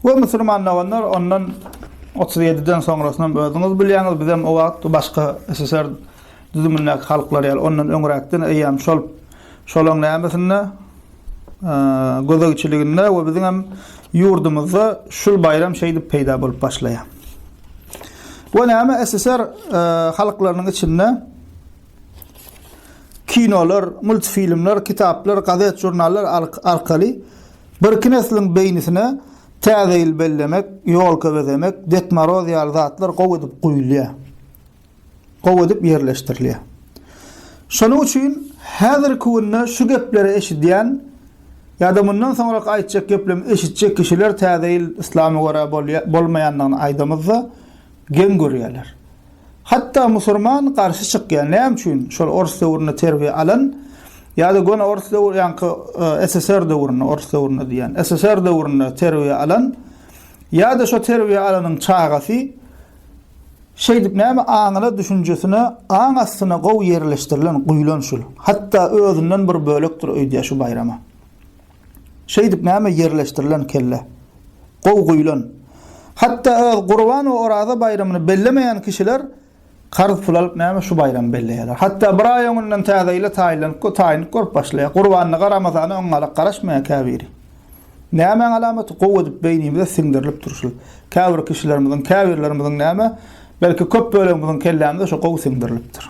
We musulman doganlar ondan 37 den soňrasynam özüňiz bilýäňiz, bizem o wagt başga SSR düzümindäki halklar ýaly ondan öňräkden eýýäm şol şolaň nämesinde gözegçiliginde we biziňem ýurdumyzda şul baýram şeýdip peýda bolup başlaýar. We näme SSR halklarynyň içinde Kinolar, multfilmler, kitaplar, gazet-žurnallar arkaly birki nesliň beýnisine Täze ýyl bellemek, ýolka bezemek, Ded Moroz ýaly zatlar gowy edip guýulýar. Gowy edip ýerleşdirilýär. Şonuň üçin häzirki günde şu gepleri eşidýän ýa-da mundan soňrak aýtjak geplemi eşitjek kişiler Täze ýyl Yslama görä bolýa, bolmaýandygyny aýdamyzda geň görýärler. Hatda musurman garşy çykýar näme üçin şol ors döwründe terbiýe alan ýada göni ors döwür ýaňky SSR döwründe ors döwründe diýýän SSR döwründe terbiýe alan ýada şo terbiýe alanyň çagasy şeýdip näme aňyna düşünjesine aň astyna gowy ýerleşdirilen guýlan şul hatda özünden bir bölekdir öýdýär şu baýrama. Şeýdip näme ýerleşdirilen kelle. Gowy guýlan. Hatda öz Gurban we Oraza baýramyny bellemeýän kişiler karz pul alyp näme şu baýramy belleýärler. Hatda bir aý öňünden täze ýyla taýynlanyp we taýynlyk görüp başlaýar. Gurbanlyga Ramazana öňňalak garaşmaýar käbiri. Nämäň alamaty gowy edip beýnimize siňdirilip dur şu. Käbir kişilerimiziň, käbirlerimiziň näme, belki köp bölegimiziň kellämize şu gowy siňdirilipdir.